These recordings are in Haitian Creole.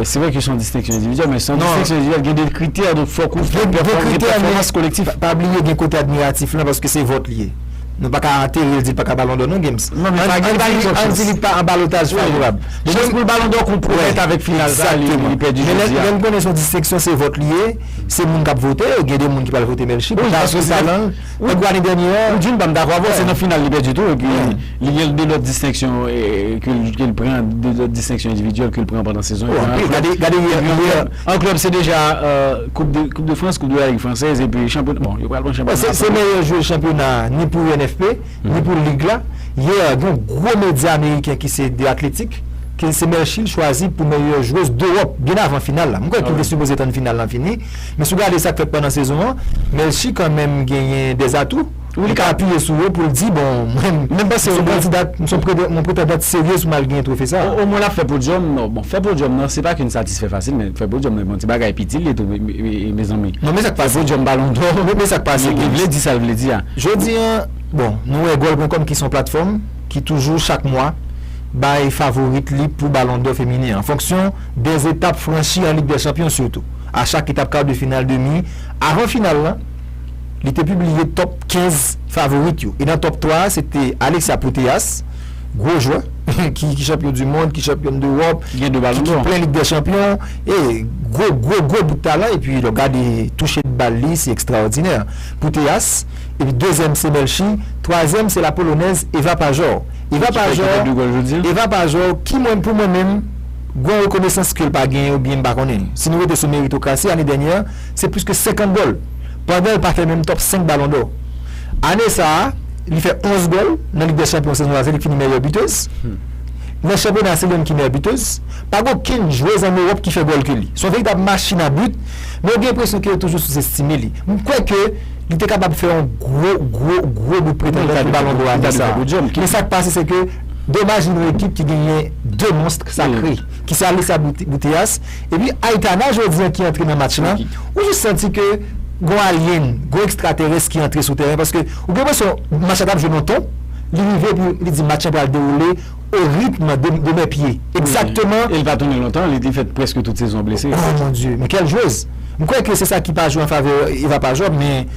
Se vre ke son distenksyon endividyèl, men son distenksyon endividyèl gen de kritè, donk fòk ou fè pèfòmans kolektif. Pa bliye gen kote admiratif lan, paske se vòt li ye. Nou pa ka antere l di l pa ka balon dò non Gims. Ann di li pa an balotaj favorab. Chans pou l balon dò konpwomèt avèk final sa li pèdi jodi a. Men lèn konnen son distenksyon se vòt li ye, se moun k ap vote, gen de moun ki pral vote Melchie pou talan l. Wè Guani dènye an. Ou di m pa m dakò avè w se nan final li pèdi tou epi li gen 2 lòt distenksyon ke l pran 2 lòt distenksyon endividyèl ke l pran pandan sezon an. Anpil gade gade yè yè an klèb se deja koup de koup de frans koup de la lig fransèz epi chanpyona bon yo pral pran chanpyona franse. Se meyè jwe chanpyona a ni pou UNFP ni pou lig la yè gen yon gwo medya ameriken ki se The Athletic ke l se Melchie l chwazi pou meyè jwez dewòp byen avan final la m kwè ki te sipoze tann final lan fini. Men si w gade sa k fèt pandan sezon an, Melchie kan menm genyen des atouts. Wi li ka apiye sou yo pou l di bon mwen m se yon kandidat, m se yon pretandant serye si m al genyen twofe sa a. Omwen l ap fè podyòm. Bon fè podyòm nan se pa k yon satisfè fasil men fè podyòm nan se pa yon ti bagay piti l ye tou mezanmi. Non men sa k pase. Fè podyòm balon dò. Non men sa k pase Gims. Li vle di sa l vle di a. Jodi an bon nou wè Goal Pwen Kòm ki se yon platfòm ki toujou chak mwa bay favorit li pou balon dò feminen an fonksyon 2 etap franchi an Lig dè Chanpyon sitou a chak etap kar de final, demi, avan final lan li te pibliye top 15 favorit yo e nan top 3 a se te Alexia Putellas, gwo jwè ki chanpyon du mond, ki chanpyòn d'Europe, ki plen Lig dè Chanpyon e gwo gwo gwo bout talan epi lè w gade touche de bal li se ekstraòdinè Putellas epi dezyèm se Melchi, twazyèm se la polonèz Ewa Pajor, Ewa Pajor Ewa Pajor ki mwen pou mwen menm. Gwan rekonesans ke l pa genyen ou byen m pa konnen. Si nou rete sou meritokrasi, ane dènyè se plis ke 50 gòl, pandan l pa fè menm tòp 5 balon dò. Ane sa a, li fè 11 gòl nan Lig dè Chanpyon sezon sa se li ki fini mèyè bitez. Nan chanpyona se li menm ki mèyè bitez. Pa gen okenn jwez an Ewòp ki fè gòl ke li. Se yon veritab machin a bit, men ou gen enpresyon ke yo toujou souzestime li. M kwè ke li te kapab fè yon gwo, gwo, gwo bout pretandant pou balon dò ane sa a. Men sa k pase se ke. Domaj pou yon ekip ki genyen 2 monstre sakre ki se Alessa Putellas epi Aitana jodi an ki antre nan match lan ou jis santi ke gon alien, gon ekstraterès ki antre sou tèren paske ou gen enpresyon match la t ap jwe nan ton li rive epi li di match lan pral dewoule o ritm de mè pye egzakteman. E li pa tounen lontan li te fè prèske tout sezon an blese. Oh mon Dieu! Men kèl jwez! M kwè ke se sa ki pa jwe an favè Eva Pajot men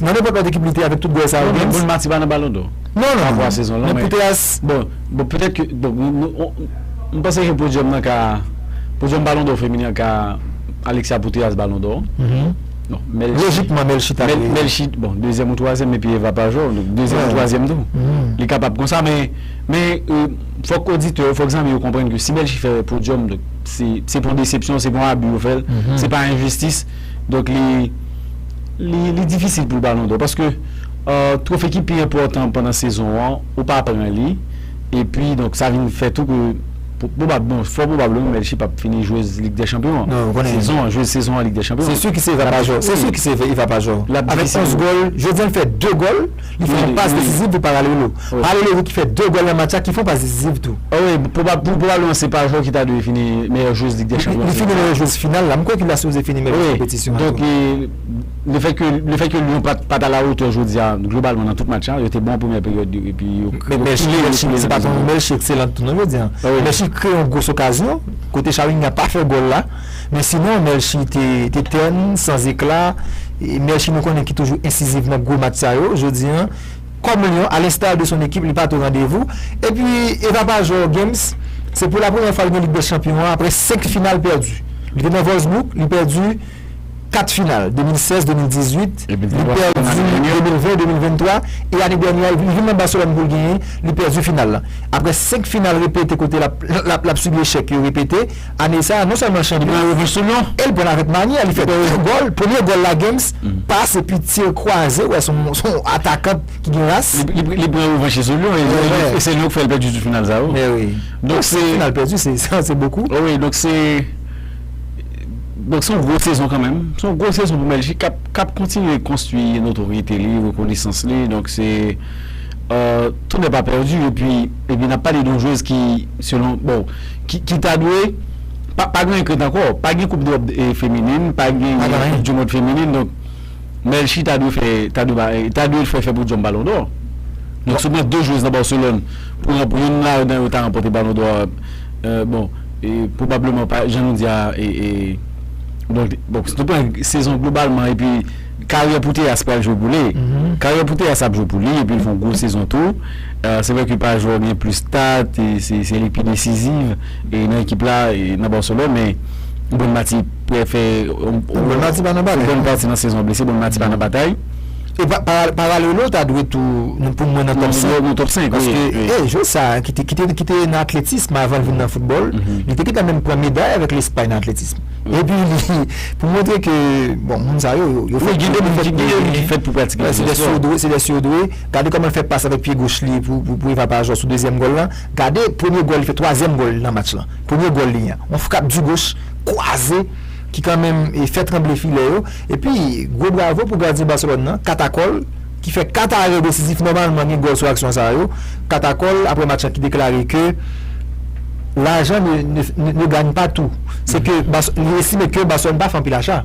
nan nenpòt lòt ekip li te avèk tout gòl sa yo James. Bon Mati pa nan balon dò. Non non non, men pou teyas, bon, bon petèt ke, bon, m panse ke podyòm nan ka, podyòm balon dò feminen an ka Alexia pou teyas balon dò an. Lojikman Melchie ta dwe. Melchie, bon, dezyèm ou twazyèm epi Eva pa jwe, donk dezyèm ou twazyèm tou. Li kapab konsa men, men fòk oditè yo, fòk zanmi yo konprann ke si Melchie fè podyòm donk se, se pa yon desepsyon, se pa yon abi yo fè l, se pa yon enjistis donk li. Li difisil pou l balon dò paske twofe ki pi enpòtan pandan sezon an ou pa pran li epi donk sa vin fè tou ke pwobab non fò pwobableman Melchie p ap fini jwez lig dè chanpyon an sezon an jwez sezon an lig dè chanpyon an. Se su ki se Eva Pajò se su ki se Eva Pajò avèk 11 gòl jodi a l fè 2 gòl. Li fè yon pas desizif pou Paralelo. Paralelo ki fè 2 gòl nan match la ki fè yon pas desizif tou. Wi, pwobableman se pa jwè ki ta dwe fini meyè jwez Lig dè Chanpyon. Li fini meyè jwez final la. M kwè ke li ta sipoze fini meyè jwez konpetisyon an tou. Donk, lefètke Lyon pat alawotè jodi a globalman nan tout match la, yo te bon an premyè peryòd yo epi yo kreye yon gwo okazyon. Mèsi pa pou Melchie ekselan tou non jodi a. Melchie kreye yon gwo okazyon kote Shawinigan pa fè gòl la. Men sinon, Melchie te tèn, san zekla. Melchie nou konnen ki toujou ensiziv nan gwo match sa yo, jodi an, kòm lyon, a lenstar de son ekip, li pa t o randevou. Epi, Eva Pajor Games, se pou la premyè fwa li nan Lig dè Chanpyon an aprè senk final pèdi. Li te nan Wolfsburg, li pèdi kat final, 2016, 2018, li pèdi 2020, 2023, e ane dènyè a, li vin nan Barcelone pou l genyen, li pèdi final la. Aprè senk final repete kote l ap sibi echèk yo repete, Ane sa a, non sèlman Chandri pran revanch sou Lyon e l pran l avèk manyè, li fè 2 gòl, premye gòl la Games pas epi tire kwaze, wè se yon atakant ki gen ras. Li pran revanch li sou Lyon e se Lyon k fè l pèdi tout final sa yo. Donk se 7 final pèdi se bokou. Wi donk se yon gwo sezon kanmenm, se yon gwo sezon pou Bèljik k ap kontinye konstwi notorite li, rekonesans li donk se tout nèt pa pèdi epi. Epi nap pale don jwez ki selon bon ki ta dwe pa gen kret anko pa gen koup drop feminin pa gen koup di mond feminin donk melchi ta dwe fè ta dwe ba ta dwe fè fè podyòm balon dò donk sou mwen 2 jwez nan barcelone pou yon pou youn ladan yo ta ranpote balon dò bon pwobableman pa jan nou di a e e bon bon se te pwen sezon globalman epi. Karyè Putellas pral jwe pou li. Karyè Putellas ap jwe pou li epi l fè yon gwo sezon tou. Se vre ke pa jwè w gen plis stat, se li ki pi desiziv nan ekip la nan Barcelone men Bon Mati prè fè yon bon pati nan sezon an blese Bon Mati pa nan batay. E Paralelo ta dwe tou pou mwen nan top 5. Nan top 5 wi. Paske jwè sa ki te nan atletism avan l vin nan foutbòl, li te gentan menm pran meday avèk Lespay nan atletism. Epi pou montre ke bon moun sa yo yo fèt pou yo fèt pou yo gen yo fèt pou pratike jwèt yo se lè yo se lè yo dwe gade kòman l fè pas avèk pye goch li pou Eva pa jwè sou dezyèm gòl lan gade premye gòl li fè twazyèm gòl li nan match lan premye gòl li an yon frap di goch kwaze ki kanmenm fè tranble filè yo epi gwo bravo pou gadyen Barcelone nan katakòl. ki fè 4 arè desizif nòmalman gen gòl sou aksyon sa yo, Katakòl aprè match la ki deklare ke lajan ne gagne pas tout, se ke li estime ke Barcelone pa fè anpil acha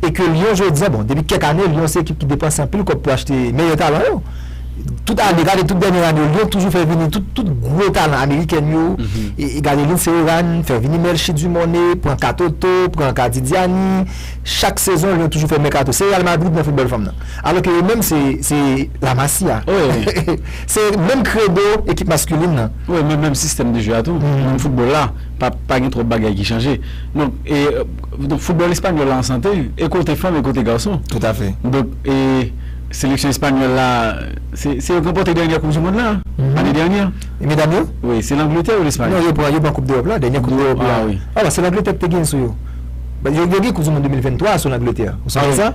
e ke Lyon jodi a, bon depi kèk ane Lyon se ekip ki depanse anpil kòb pou achte meyè talan yo, tout ane, gade tout dènyè ane yo Lyon toujou fè vini tout gwo talan amerikèn yo, gade Lindsey Horan fè vini Melchie Dumornay, pran Katoto, pran Kadidiani, chak sezon Lyon toujou fè mèkato, se Real Madrid nan foutbòl fanm nan. Alò ke yo menm se se La Masia. Wi. Se menm kredo ekip maskulin nan. Wi, men menm sistèm de jwe a tou. Menm foutbòl la. Pa pa gen twòp bagay ki chanje. Donk e donk foutbòl espanyòl la an sante. E kote fanm e kote gason. Toutafè. Donk e seleksyon espanyòl la se se yo ki ranpòte dènyè koup di monn la ane dènyè. E medam yo? Wi. Se Langletè ou Lespay? Non, yo pran yo pran koup dewòp la. Dènyè koup dewòp la. Awi. Awa se Langletè ki te genyen sou yo. Yo gen koup di monn 2023 a sou Langletè. Ou sonje sa?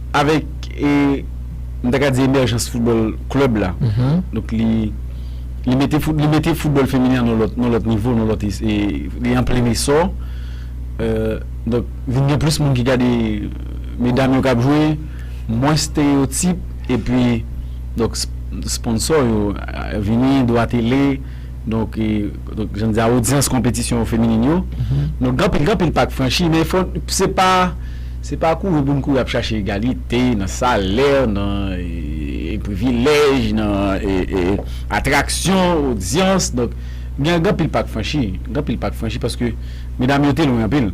Avèk e, m ta ka di emèjans foutbòl klèb la, donk li li mete fout li mete foutbòl feminen an nan lòt nan lòt nivo, nan lòt es e li an plen esò. E donk vin gen plis moun ki gade medam yo k ap jwe, mwens estereyotip epi donk s sponsò yo vini, dwa tele. Donk, jan m di a, odyans konpetisyon feminin yo, donk gen anpil, gen anpil pa k franchi, men fò, se pa, se pa kouri pou n kouri ap chache egalite nan salè, nan privilèj, nan atraksyon, odyans, donk, gen anpil pa k franchi, gen anpil pa k franchi paske medam yo te lwen anpil,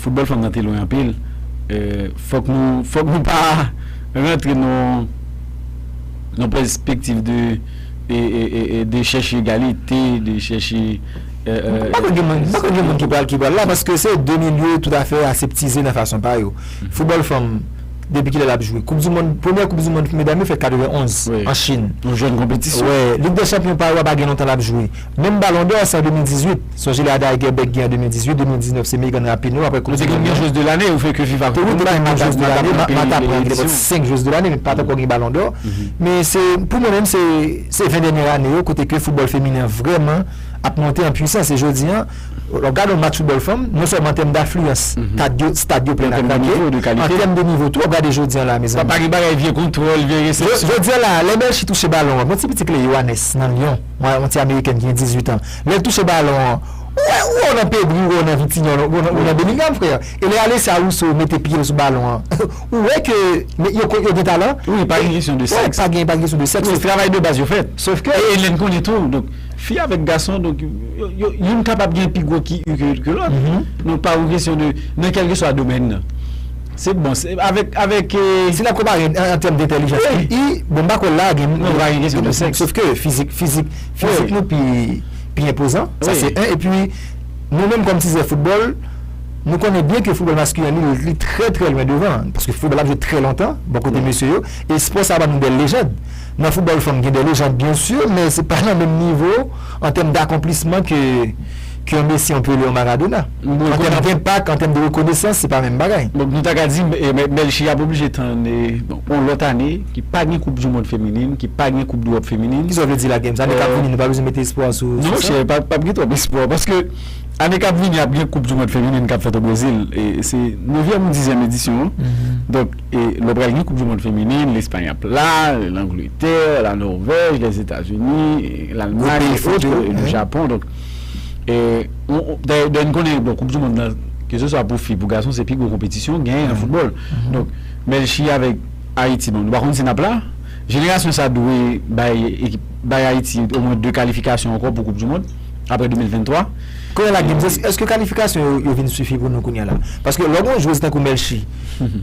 foutbòl fanm nan te lwen anpil, fòk nou, fòk nou pa rantre nan yon pèspektiv de. de chèche egalite, de chèche eee. Poko gen moun ki pral ki pral la paske se 2 milye tout afè aseptize nan fason pa yo. Foutbòl fanm depi kilè lap jwe? Koup dimond, premyè koup dimond pou medam yo fèt 91 an Chin. Yon jèn konpetisyon. Lig dè chanpyon pa yo a pa gen lontan lap jwe. Menm Ballon d'or se an 2018. Sonje lè Ada Hegerberg gen an 2018, 2019 se Megan Rapinoe apre koup Nou te du konn mond gen lan. Joueuse de l'année ou fè ke viv avèk Wi te konn gen Joueuse de l'année, m ap aprann gen edisyon. pot 5 Joueuse de l'année men pat ankò gen Ballon d'or. Men se pou mwen menm se se 20 dènyè ane yo kote ke football feminen an vrèman ap monte an pwisans e jodi an w ap gade yon match football fanm non sèlman an tèm dafliyans kad yo stad yo plen a krake an tèm de nivo tou w ap gade jodi an la mezanmi. Pa gen bagay vye kontwòl vye resepsyon. Jodi an la lè Melchie touche balon an bon ti piti Cléo Anès nan Lyon. Mwen yon ti amerikèn ki gen 18 an. Lè l touche balon an, ou wè ou wè w nan Pedri, ou wè w nan Vitinha, ou wè w nan Bellingham frè. E lè Alessia Russo mete pye l sou balon an, ou wè ke yo gen talan. Wi, pa gen kesyon de sèks. Pa gen kesyon de sèks. Wi, travay de baz yo fèt. Sof ke. E lè n konnen tou, donk, fi avèk gason, donk, youn kapab gen pi gwo QI ke lòt. Donk pa yon kesyon de, nan kèlkeswa domèn nan. Se bon, se avèk, avèk e. Si n ap konpare an tèm dentèlijans wi. E, i, bon m pa kwè l la a gen. Non, m pa gen kesyon de sèks. Sofke fizik, fizik, fizik nou pi, pi enpozan. Wi. Sa se 1, epi nou menm kòm tizè foutbòl, nou konnen byen ke foutbòl maskulen li, li trè trè lwen devan. Paske foutbòl la ap jwe trè lontan, bò kote mesye yo. E spò sa a ban nou bèl lejand. Nan foutbòl fanm gen dè lejand byensi, men se pa nan menm nivo an tèm dakonplisman ke. ke yon Messi, yon Pelé, yon Maradona. An tèm denpak, an tèm de rekonesans, se pa menm bagay. Donk nou ta ka di Melchie ap oblije tann yon lòt ane ki pa gen koup du mond feminin, ki pa gen koup dewòp feminin. Kisa w vle di la James? Ane k ap vini nou pa bezwen mete espwa sou sa? Non chè, pa gen twòp espwa paske ane k ap vini ap gen koup du mond feminin k ap fèt o Brezil. Se nevyèm ou dizyèm edisyon an. Donk lè pral gen koup du mond feminin, Lespay ap la, Langletè, La Nòvèj, Lèzetazini, Lalmay, Lejapon. Dayè n konnen bon koup di mond lan keseswa pou fi pou gason se pi gwo konpetisyon gen nan foutbòl donk Bèlchi avèk Ayiti bon nou pa konn si n ap la jenerasyon sa dwe bay ekip bay Ayiti omwen 2 kalifikasyon ankò pou koup di mond aprè 2023. Kounye la Gibbs èske kalifikasyon yo vin sifi pou nou kounye la paske lè w gen yon jwez tankou Melchi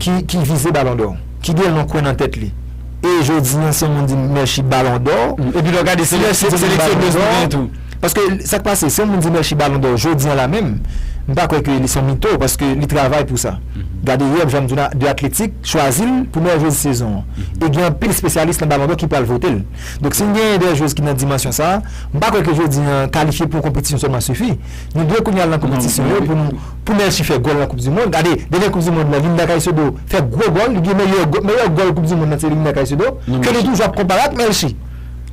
ki vize balondò ki gen lon kwen nan tèt li. E jodi an si yon moun di m Mershi balon dò. Epi lè w gade se seleksyonèz nou genyen tou. Paske sa k pase, si yon moun di Mershi balon dò jodi an la menm, m pa kwè ke li se yon mito paske li travay pou sa. Gade yè Joan Duna de atletik chwazi l pou meyè jwez sezon an. E gen anpil spesyalis nan balon dò ki pral vote l. Donk si n genyen de jwez ki nan dimansyon sa, m pa kwè ke jodi an kalifye pou yon konpetisyon sèlman sifi. Nou dwe kounye a al nan konpetisyon yo pou nou. Pou Melchie fè gòl nan koup di mond, gade dènye koup di mond lan Linda Caicedo fè gwo gòl, li gen meyè gòl, meyè gòl koup di mond lan se Linda Caicedo, ke nou toujou ap konpare ak Melchie.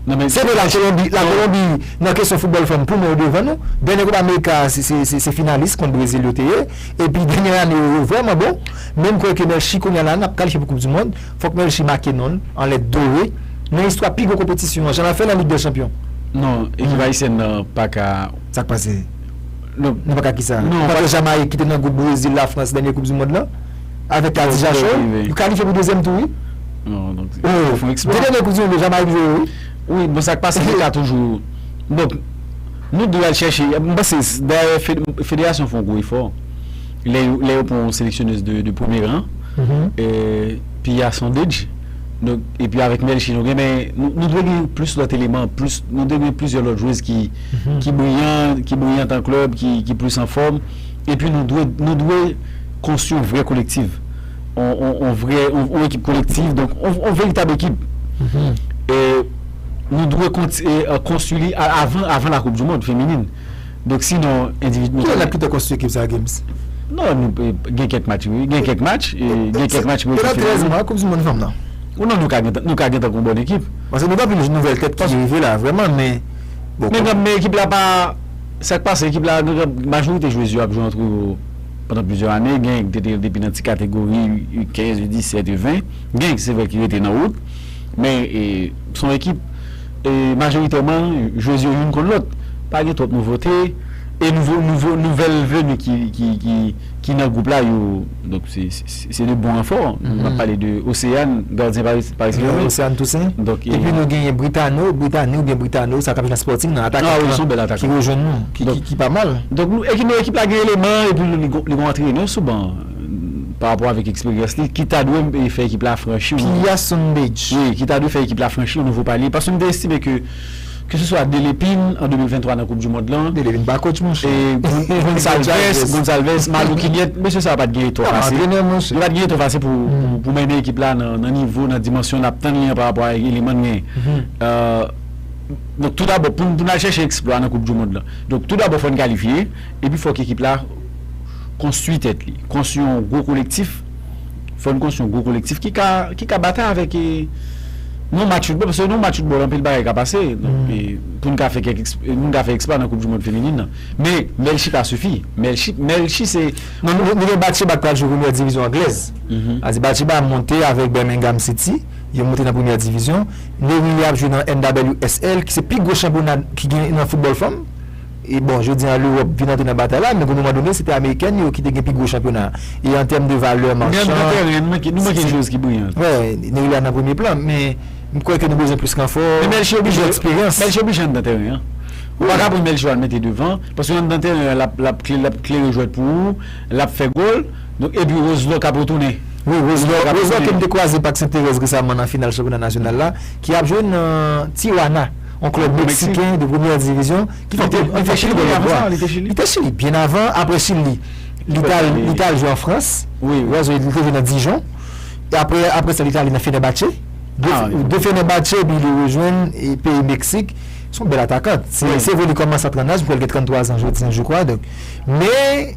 Se vre la Kolonbi, la Kolonbi nan kesyon foutbòl fanm pou mwen yo devan nou, dènye koup amerika a se, se, se finalis kont Brezil yo te ye, epi dènye ane yo yo vrèman bon, men m kwè ke Melchie kounya la nap kalifye pou koup di mond, fòk Melchie make non l an lèt dore nan istwa pi gwo konpetisyon an jan la fè nan lig dè chanpyon. Non, ekip ayisyèn nan paka. Sak pase? Non, nou pa ka kisa. Nou pa ka. Jamayik ki te nan gwoup Brezil, Lafrans dènye koup di mond lan, avèk Kadija Show, yo kalifye pou dezyèm tou wi. Non, donk yo fon eksplwa. De dènye koup di mond yo Jamayik jwe yo wi. Wi, bon sa k pase yo ka toujou donk nou dwe al chèche, m panse dayè federasyon fon gwo efò lè yo lè yo pran yon seleksyonèz de premye ran, Pia Sandridge donk epi avèk Melchie nou gen men nou dwe gen plis lòt eleman plis nou dwe gen plizyè lòt jwez ki. ki briyan, ki briyan tan klèb, ki plis anfòm. Epi nou dwe, nou dwe konstwi yon vrè kolektiv. On, on, on vrè, on, on ekip kolektiv. Donk, on, on veritab ekip. E nou dwe konti, e konstwi li a, avan, avan lakoup di mond feminin. Donk sinon endivid. Ki lè n ap kite konstwi ekip sa a, Gims? Non, nou pe, gen kèk match wi. Gen kèk match, e gen kèk match pou ekip feminin. Nan 13 mwa koup di mond fanm nan. Ou non nou ka gen tan, nou ka gen tan kou bon ekip. Paske nou gen anpil nouvèl tèt ki rive la, vrèman, men. Bon Men gab men ekip la pa Sak pase ekip la gen gab majorite jwez yo ap jwe antre yo pandan plizyè ane gen ki te te depi nan ti kategori U 15 U 17 U 20 gen se vre ki rete nan wout men e son ekip e majoritèman jwez yo youn konn lòt pa gen twòp nouvote e nouvo nouvo nouvèl veni ki ki ki ki nan gwoup la yo donk se. Se de bon ranfò. M ap pale de Oseyan, gadyen Paris Saint-Germain. Oseyan Tousen. Epi nou genyen Britano, Britani oubyen Britano, sa ta vle di nan Sporting nan, atakan lan ki rejwenn nou, ki pa mal. Donk nou ekip nou ekip la gen eleman epi li gen yon antrenè sou ban pa rapò avèk eksperyans li ki ta dwe fè ekip la franchi. Piya Sundej. Wi, ki ta dwe fè ekip la franchi yon nouvo palye paske m te estime ke Ke se swa Delepin an 2023 nan koup du mond lan. Delepin pa coach monchè. E Gonsalves, Gonsalves, Malou Kimiet, mesye sa yo pat gen etò fasil. Yo pa antrenè monchè. Yo pat gen etò fasil pou mennen ekip la nan nivo, nan dimansyon nap tann li an parapò a eleman n genyen. Donk tou dabò pou n al chèche eksplwa nan koup du mond lan, donk tou dabò fò n kalifye epi fòk ekip la konstwi tèt li, konstwi yon gwo kolektif. Fò n konstwi yon gwo kolektif ki ka ki ka batay avèk e yon match foutbòl paske nan yon match foutbòl anpil bagay ka pase e pou n ka fè kèk eksp pou n ka fè eksplwa nan koup dimond feminin nan men Melchie pa sifi Melchi Melchie se nan nou nou gen Batcheba k pral jwe premyè divizyon anglèz sa di Batcheba monte avèk Birmingham City yo monte nan premyè divizyon Nery ap jwe nan NWSL ki se pi gwo chanpyona ki gen nan foutbòl fanm. E bon, jodi a Lewòp vin antre nan batay la, men gwo moman done se te Amerikèn yo ki te gen pi gwo chanpyona a. E an tèm de valè manchan, si se. Nan tèren, nou manke, nou manke yon jwez ki briyan. Wè, Neylia nan premye plan, men m kwè ke nou bezwen plis ranfò, Men Melchie oblije, plis eksperyans. Melchie oblije anndan tèren an. Ou pa ka pran Melchie al mete devan, paske anndan tèren an lap, lap kle, lap klere jwèt pou ou, lap fè gòl, donk epi Roselò kap retounen. Wi, Roselò, Roselò ke m te kwaze Pak Sentèrèz resaman nan final chanpyona nasyonal la, ki ap jwe nan Tijuana. Yon klèb meksiken de premyè divizyon ki fè anpil gòl. Li te Chili byen avan. Apre Chili, li t al jwe an Frans. Li te jwe nan Dijon. Apre sa, li te ale nan Fenerbahçe. De Fenerbahçe, li te rejwenn peyi Meksik. Se yon bèl atakan. Se vre li kòmanse a 30 laj, li gen 33 an jodi an, jekwa. Men.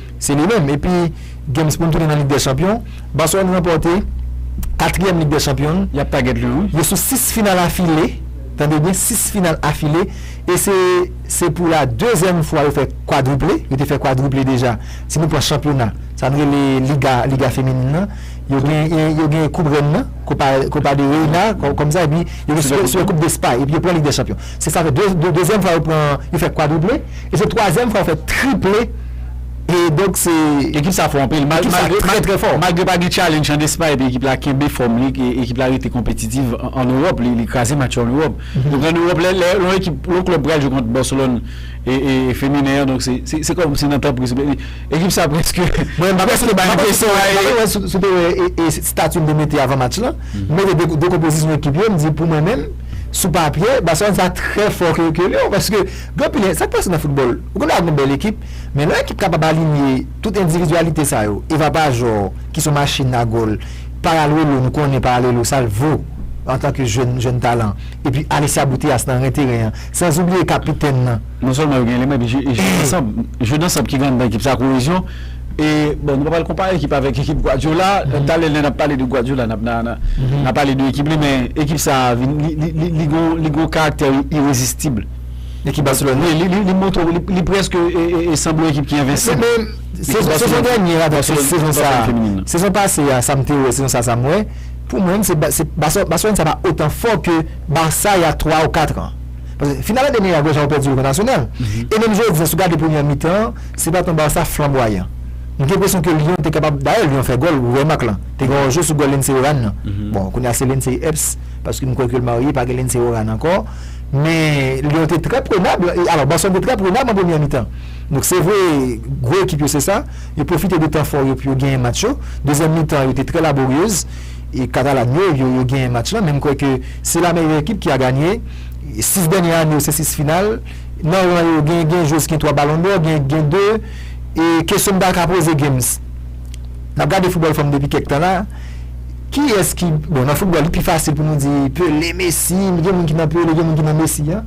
Se li menm epi games poun tounen nan lig dè chanpyon, Barcelone ranpòte katriyèm lig dè chanpyon l, Yap tagèt li wi. yo sou 6 final afile, tande byen 6 final afile e se se pou la dezyèm fwa yo fè kwadriple, yo te fè kwadriple deja si nou pran chanpyona sa nou rele liga, liga feminin nan, yo gen yo gen koup rèn nan, Copa Copa de Reina kòm sa epi yo gen Super Coupe d'Espagne epi yo pran lig dè chanpyon se sa fè dezyèm fwa yo pran yo fè kwadriple. E se twazyèm fwa w fè triple e donk se. Ekip sa fò anpil malgre pa gen challenge an Espay epi ekip la kenbe fòm li ekip la rete konpetitiv an Ewòp li kraze match yo an Ewòp donk an Ewòp lè yon ekip yon klèb pral jwe kont Barcelone e feminen an donk se kòm se nan tan pri souple ekip sa prèske mwen pa prèske bay enpresyon mwen pa wè si w te wè estati m te mete avan match lan m mete de konpozisyon ekip yo m di pou mwen menm sou papye Barcelone sa trè fò ke Lyon paske Gen anpil e, sa k pase nan foutbòl, ou gen dwa gen yon bèl ekip, men lè yon ekip kapab alinye tout endividyalite sa yo, Eva Pajor ki son machin a gòl, Paralluelo nou konnen Paralluelo sa l vo antanke jèn jèn talan, epi Alessia Putellas nan ren teren an, sanzoubliye kapitèn nan. Non sèlman yo gen eleman epi jwe jwe ansanm, jwe dansanm ki gen anndan ekip sa koyezyon e bon nou pa pral konpare ekip avèk ekip Guardiola, talè lè n ap pale de Guardiola n ap nan nan pale de ekip li men ekip sa vin li li li li gon li gon karaktè irezistib. Ekip Barcelone wi li montre li preske sanble yon ekip ki envensib. Men sezon dènye a donk sezon sa a sezon pase a sa m te wè sezon sa a sa m wè pou mwen se Barcelone sa pa otan fò ke Barça y a 3 ou 4 an. Paske final ane dènye a gade jan yo pèdi yo kont Arsenal e menm jodi a si w gade premyè mitan an se pa t yon Barça flanbwayan. M gen enpresyon ke Lyon te kapab dayè Lyon fè gòl ou wè mak lan te gen yon je sou gòl Lindsey Oran nan bon kounye a se Lindsey Epps paske m kwè ke l marye pa gen Lindsey Oran ankò. Men Lyon te trè prenab, alò Barcelone te trè prenab an premyè mitan. Donk se vre gwo ekip yo se sa, yo pwofite de tan fò yo pou yo genyen match yo. Dezyèm mitan yo te trè laboryeuz e katalan yo yo genyen match lan men m kwè ke se la meyè ekip ki a ganye 6 dènye ane yo se 6 final. Nan ran yo gen gen jwez ki gen 3 balon dò, gen gen 2 e kesyon m ta ka poze Games. N ap gade foutbòl fanm depi kèk tan la. Kiyès ki, bon nan foutbòl li pi fasil pou nou di Pele, Mesi, men gen moun ki nan Pele, gen moun ki nan Mesi an.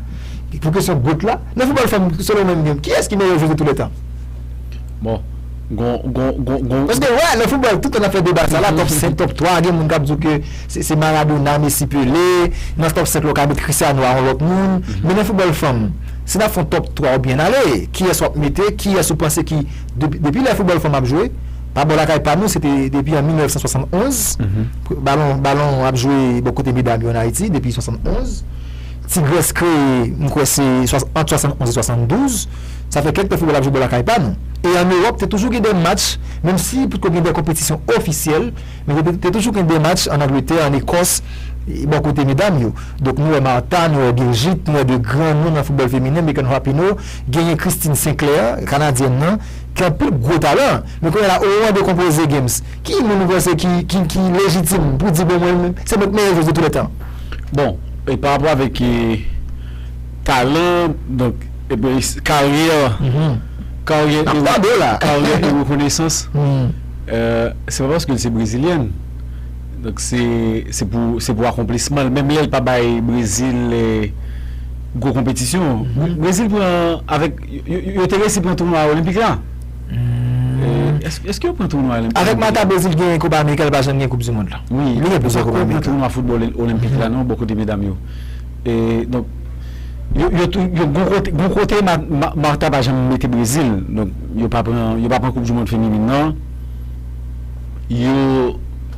Pou kesyon goat la. Nan foutbòl fanm selon ou menm kiyès ki meyè jwez de tou lè tan? Bon, gon, gon, gon, gon. Paske wè nan foutbòl tout tan n ap fè deba sa la, top 5, top 3, gen moun k ap di w ke se Maradona, Mesi, Pele. Nan top 5 la ou ka met Cristiano a yon lòt moun. Men nan foutbòl fanm, si n ap fè yon top 3 ou byen ale, kiyès w ap mete, kiyès ou panse ki. Depi lè foutbòl fanm ap jwe, pa bò lakay pa nou, se te depi an 1971, balon ap jwe bò kote medam yo ann Ayiti, depi 71, Tigrès kreye, m kwè se ant 71 e 72, sa fè kèk tan foutbòl ap jwe bò lakay pa nou. E ann Ewòp, te toujou gen de match, menm si potko gen de konpetisyon ofisyèl, men te toujou gen de match ann Angletè, ann Ekòs, bò kote medam yo. Donk nou wè Marta, nou wè Birgit, nou wè de gran non nan foutbòl feminen, Megan Rapinoe. Genyen Christine Sinclair, kanadyèn nan, ki anpil gwo talan. Men kounye a la, omoman de konpoze Games, ki moun ou panse ki lejitim pou di bon mwen menm, se mwen ki meyè jwez de tou lè tan? Bon, e pa rapò avèk talan, donk, epi karyè, karyè e rekonesans, se pa paske li se brezilyèn, donk se pou akonplisman li, menm lè li pa bay Brezil. Gwo konpetisyon. Brezil pran avèk yo te resi pran tounwa olenpik la. Eske yo pran tounwa olenpik la? Avèk Mata Brezil genyen Kopa Amerika li pa janm gen Koup Dimond la. Wi, li gen plizyè Koup Amerika. Yo pa pran tounwa foutbòl olenpik la non bò kote medam yo. E donk yo gwo kote gwo kote Marta pa janm mete Brezil. Donk yo pa pran yo pa pran Koup Dimond feminin nan. Yo.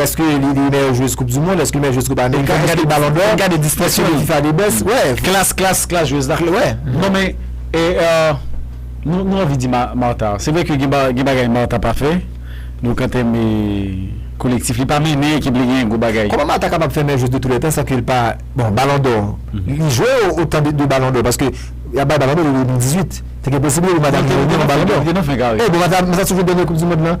Eske li te meyè jwez koup du mond, eske li meyè jwez koup amerika, eske li balon dò, eske li fifa de best, klas klas klas jwez la. Non men nou anvi di Martha, se vre ke gen bagay Martha pa fè, donk an tèm kolektif li pa mennen ekip li gen gwo bagay. Kòman Martha kapab fè meyè jwez de tou lè tan san ke li pa, bon balon dò, li jwe otan de balon dò paske y ap bay balon dò de 2018, se gen posiblite pou Martha vin meyè jwez de balon dò. Li te nan fen kare. Bon Martha toujou dènye koup du mond lan.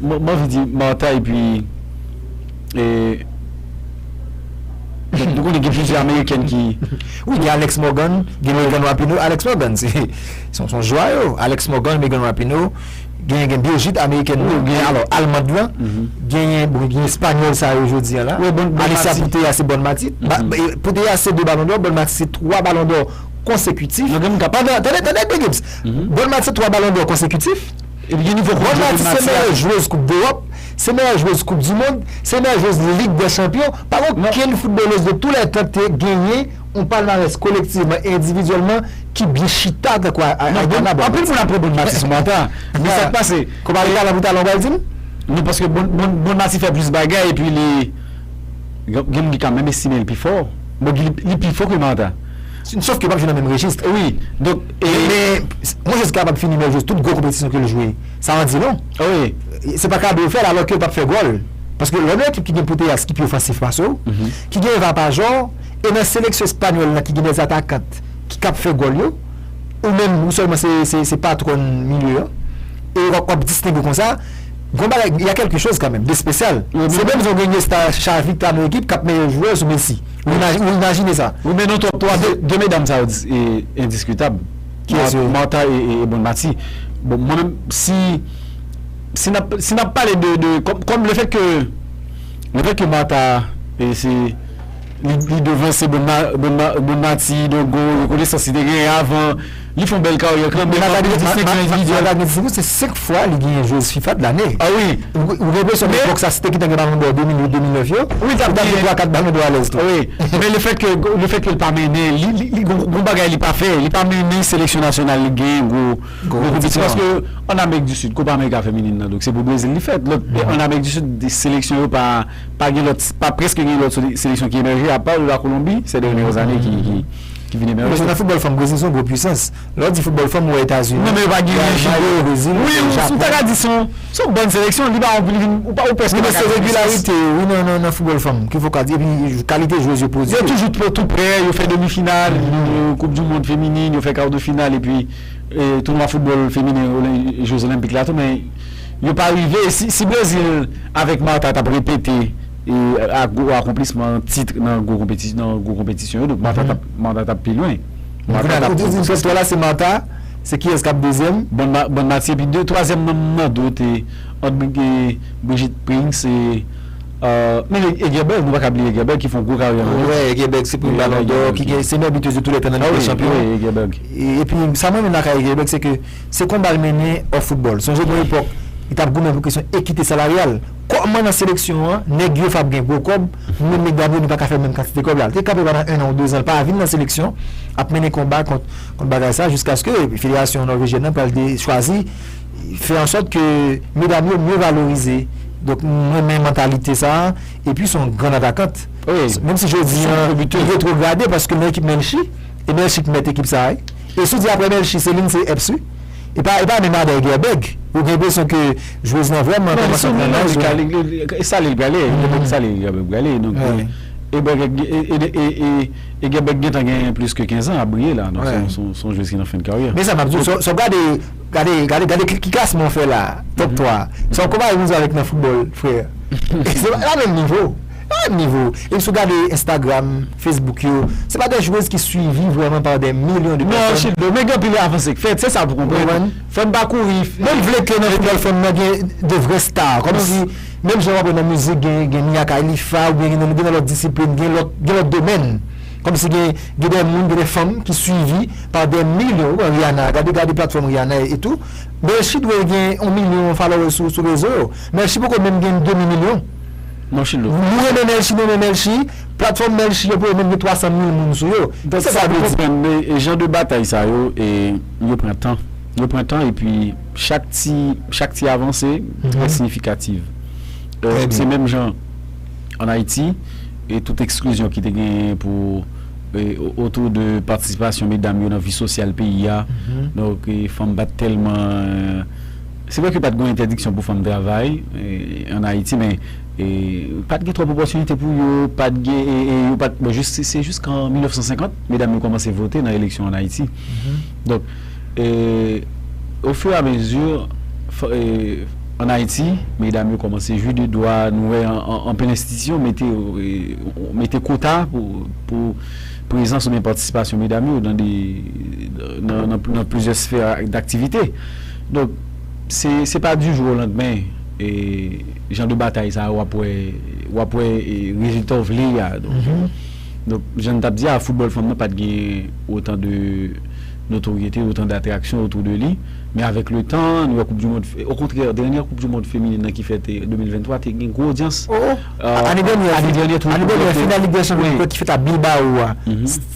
Mwen anvi di Martha epi ou konnen gen plizyè amerikèn ki wi gen Alex Morgan gen Megan Rapinoe Alex Morgan se son jwa yo Alex Morgan Megan Rapinoe gen gen Birgit amerikèn nan gen alò almand lan genyen bon gen espanyòl sa yo jodi an la Alicia Puteya se Bon Mati Puteya se 2 balon dò Bon Mati se 3 balon dò konsekitif tande tande Bgy Gibbs Bon Mati se 3 balon dò konsekitif Epi gen nivo koup Jwez Max la. Bon Nati se meyè jwez koup dewòp, se meyè jwez koup di mond, se meyè jwez lig dè chanpyon, pa gen okenn foutbolèz de tou lè tan ki te genyen yon palmarès kolektivman e endividyèlman ki byen chita tankou Aitana Bon Mati. Anpil moun ap pran Bon Mati sou manta, men sa k pase? Kou pale talan pou talan ou pral di m? Non paske Bon Mati fè plis bagay epi li gen moun ki ka menm estime l pi fò, bon li pi fò ke Martha. Sof ke pap jwe nan menm rejis. Wi donk e. Men mwen jezi kapab fini meyè jwez tout gwo konpetisyon ke l jwe. Sa an di long. Wi. Se pa kado yo fè l alò ke yo pap fè gòl. Paske lè w nan ekip ki gen Putellas ki pi ofansif pase w, ki gen Eva Pajor, e nan seleksyon espanyòl la ki gen dè atakant ki kab fè gòl yo, ou menm ou sèlman se se patwòn milye an, e w ap distenge w konsa, gon bagay, y a kèlke choz kanmenm, de spesyal. Se menm jan w gen Iniesta, Xavi ki ta nan ekip k ap meyè jwè sou Messi. Ou imajine sa. Wi men nou twòp twa de. De medam sa yo endiskitab. Kiyès yo ye? Martha e bon Mathy. Bon mwen menm si si n ap si n ap pale de de kòm le fèt ke le fèt ke Martha e se li li devanse bon bon Mathy dongo yo konesans li te genyen avan. Li fon bèl karyè kanmenm. Mwen ap gade 25 an endividyèl. Mwen ap gade 25 an, se 5 fwa li genyen jwez fifa de lane. A wi. Ou gen enpresyon ke epòk sa se te ki te gen balon dò 2008, 2009 yo? Wi li t ap genyen. Li t ap gen 3, 4 balon dò alèz tou. Wi. Men le fèt ke, le fèt ke li pa mennen, li gon bagay li pa fè. Li pa mennen seleksyon nasyonal li genyen gwo konpetisyon. Paske an Amerik di Sid, Kopa Amerika feminin nan, donk se pou Brezil li fèt. Lòt, an Amerik di Sid, seleksyon yo pa, pa gen lòt, pa preske gen lòt seleksyon ki emèje apa la Kolonbi, sè dènyè zane ki, ki. ki vini nan Resò. Nan foutbòl fanm, Brezil se yon gwo pwisans. Lè w di foutbòl fanm, ou wè Etazini, Brezil, Jamayik, Brezil. Non men yo pa gen yon jigo. Wi, ou ta ka di se yon bòn seleksyon. Li pa anpil, ou prèske pa ka di pwisans. Wi men se regilarite yo wi nan foutbòl fanm ki fòk a di. Epi kalite jwez yo pwodui yo. Yo toujou tou prè, yo fè demi final koup di mond feminin, yo fè kar de final epi tounwa foutbòl feminen je zolenpik la tou men yo pa rive. Si Brezil avèk Marta t ap repete. E ak gwo akonplisman an titre nan gwo konpetisyon yo donk Martha tap Martha tap pi lwen. Bon kounye a la ou te di m top 3 la se Martha, se kiyès kap dezyèm? Bon Mati epi de twazyèm nan m mande w te ant Brigitte Prince e menm Egeberg nou pa ka bliye Egeberg ki fon gwo karyè nan Lens. Wè Egeberg se premye balon dò ki gen se meyè biteuse de tou lè tan nan lig dè chanpyon. Wi Egeberg. Epi sa m renmen lakay Egeberg se ke se konba l mennen off football. Sonje gen yon epòk li tap goumen pou kesyon ekite salaryal. Kòman nan seleksyon an nèg yof ap gen gwo kòb nou menm nèg Dabo nou paka fè menm kantite kòb la. Li te kanpe pandan 1 an ou 2 zan l pa vin nan seleksyon ap mennen konba kont kont bagay sa jiskaske federasyon Nòvejyèn nan pral de chwazi fè an sòt ke medam yo mye valorize. Donk m renmen mantalite sa epi s on grann atakant. Menm si jodi an li retwograde paske nan ekip Melchie e Melchie k mèt ekip sa wi. E si w di aprè Melchie se li n se Eps wi. E pa e pa menm Adèl Gèbèg ou gen enpresyon ke jwez lan vrèman kòmanse ap pran laj la. E sale li prale e gen sale li Gèbèg prale donk e Gèbèg e Gèbèg gentan gen plis ke 15 an ap briye la donk se yon jwez ki nan fen karyè. Men sa map di w sa w gade gade gade ki klasman w fè la top 3 sa w konpare menm jan avèk nan foutbòl frè e se pa menm nivo. Pa nivo, depi si w gade Instagram, Facebook yo, se pa de jwez ki swivi vrèman pa de milyon de pèsòn. Non, chit dlo, men gen anpil avanse k fèt, se sa pou konprann. Fò n pa kouri. Men m vle ke nan foutbòl fanm nan gen de vrè star, kòm si menm jan wap wè nan mizik gen Mia Khailifa oubyen gen nan lòt disiplin, gen lòt domèn, kòm si gen de moun, gen de fanm ki swivi pa de milyon, ou pran Rihanna, gade gade platfòm Rihanna e tou, Melchie dwe gen yon milyon followers sou rezo yo, Melchie poko menm gen demi milyon. Non chilo. Nou renmen melchi nou men melchi platfòm melchi yo pou yo menm gen 300 mil moun sou yo Donk sa pou konprann e jan de batay sa yo e yo pran tan yo pran tan epi chak ti chak ti avanse trè siyifikativ e se menm jan an ayiti e tout eksklizyon ki te genyen pou e otou de patisipasyon medam yo nan vi sosyal peyi a donk fanm pat tèlman. Se vre ke pat gon entèdiksyon pou fanm travay an Ayiti men pat gen twòp opòtinite pou yo, pat gen yo pat bon jis se jis kan 1950 medam yo kòmanse vote nan eleksyon an Ayiti donk o fur a mezi an Ayiti medam yo kòmanse jwi de dwa nou wè anpil enstitisyon mete mete kota pou prezans oubyen patisipasyon medam yo nan de nan plizyè sfè daktivite. Donk, se pa di jou o landmen jan de batay sa yo w ap wè rezilta w vle a. Donk, jan n t ap di a, foutbòl fanm nan pa t gen otan de notoryete, otan datraksyon otou de li. Men avèk le tan, nou wè koup di mond, okontrè, dènyè koup di mond feminin nan ki fèt 2023 te gen gwo odyans. Ane dènyè, final lig dè chanpyon ki fèt a Bilbao a.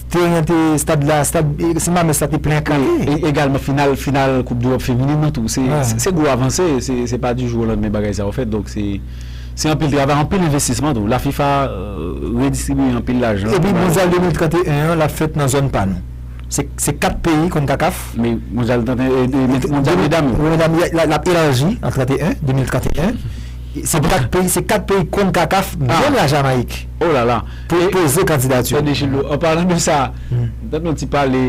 Teren an te, stad la, stad Sen Mamès la te plen kale. Wi, e egalman final, final koup deròp feminin nan tou. Se, se gwo avanse, se, se pa di jou o landmen bagay sa yo fèt. Donk se, se anpil travay, anpil envestisman tou. La fifa redistribiye anpil lajan. Epi mondyal 2031 an l ap fèt nan zòn pa nou. Se, se 4 peyi Concacaf. Men mondyal 31, e men mondyal medam yo. Mondyal medam yo, l ap elarji an 31, 2031. Se 4 peyi, se 4 peyi Concacaf, menm la Jamayik. Oh la la! Poze kandidati w. Tande Lo, an palan de sa, m tande yon ti pale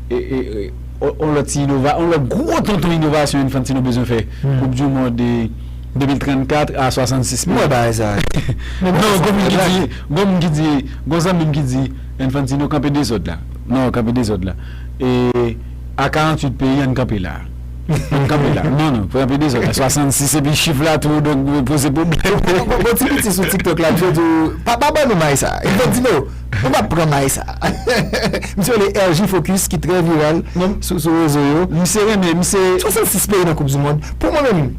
yon lòt ti inova, yon lòt gwo tonton inovasyon Infantino bezwen fè, koup di mond 2034 a 66 peyi. M wè bagay sa yo. Men bon, gen moun ki di, gen moun ki di, gen yon zanmi m ki di, Infantino kanpe dezòd la. Non, kanpe dezòd la. E a 48 peyi an n kanpe la a. Map kanpe la. Non non, pran anpil dezòd la. 66 epi chif la tou donk li poze pwoblèm. Gon ti piti sou tiktok la misye diw pa pa bannou may sa epi lòt di no nou pap pran may sa misye rele RJ focus ki trè viral sou rezo yo misye renmen misye 66 peyi nan koup di mond pou mwen menm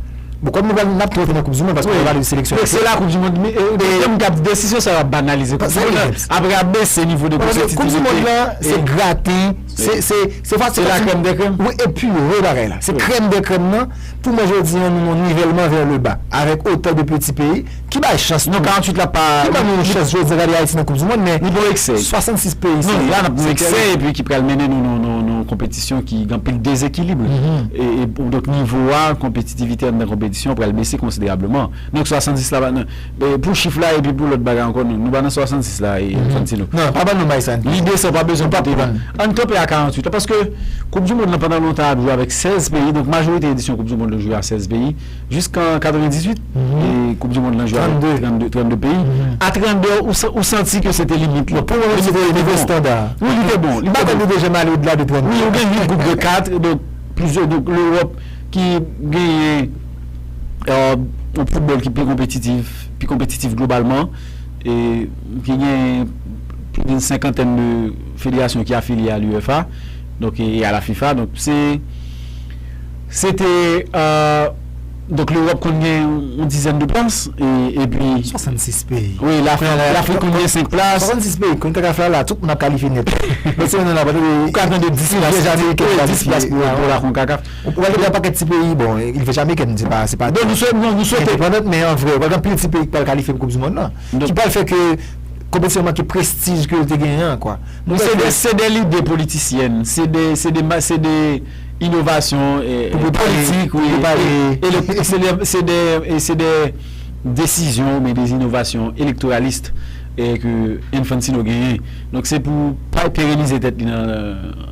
bon kòm nou pral nap tou antre nan koup di mond paske nou pale de seleksyon ayisyen se la koup di mond gen moun kap desizyon sa yo ap banalize koup di mond aprè ap bese nivo de konpetitivite koup di mond la se graten. Se fati fati. Se la krèm de krèm. Wi e pure bagay la. Se krèm de krèm nan pou mwen jodi an nou nan nivèlman vè le ba. Avèk otan de peti peyi ki bay chans tou. Non 48 la pa. Ki ban nou yon chans jodi an gade Ayiti nan koup di mond men. Li bon eksè. 66 peyi se. Non la nan bon eksè e pi ki pral mennen nou nan yon konpetisyon ki gen anpil dezekilibre. E donk nivo a konpetitivite anndan konpetisyon pral bese konsiderableman. Donk 70 la pa nan. Pou chif la epi pou lòt bagay ankò nou pa nan 66 la Infantino. Non, pa ban nou bay sa Infantino. Lide sa ou pa bezwen pote vin. Ann kanpe a 48 la paske koup du mond lan pandan lontan ap jwe avèk 16 peyi donk majorite edisyon koup du mond yo jwe a 16 peyi jiskan 98 koup du mond lan jwe avèk 32 32 peyi a 32 ou santi ke se te limit la pou mwen se te nivo estanda a. Wi li te bon. Li pa konn li te janm ale odla de 32. Wi ou gen 8 group de 4 donk plizyè donk l'Europe ki genyen. yon foutbòl ki pi konpetitif, pi konpetitif globalman, e ki gen plis d'un senkantèn de federasyon ki afilye a l'UEFA, donk, e a la FIFA, donk se, se te, donk l'Europe konn gen yon dizèn de plas, e pi. 66 peyi. Wi, l'Afrik konn gen 5 plas. 66 peyi, konn CACAF la, la tout moun ap kalifye nèt. Mèsi, nou nan la, ou ka tande 10 plas pou la CONCACAF. Ou pral wè yon pakèt ti peyi, bon Ilve Jamaiken m di pa se pa non nou swete nou swete endepandant men an vre ou pral gen anpil ti peyi ki pral kalifye pou koup di mond lan ki pral fè ke konpetisyon an manke prestij ke l te genyen an kwa. Bon se de se de lide politisyèn se de se de ma se de inovasyon pou pou pale politik wi pou pale e le e se de se de e se de desizyon oubyen de inovasyon elektoralist e ke Enfantino genyen donk se pou pa perenize tèt li nan.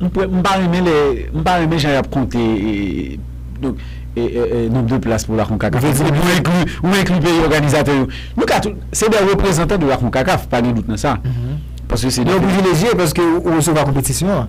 M pa renmen lè m pa renmen jan yap konte donk nonb de plas pou la konkakaf ou vle di depi ou enkli peyi òganizatè yo nou ka tou se dè reprezantan de la konkakaf pa gen dout nan sa paske se yo privilejye paske ou resevwa konpetisyon an.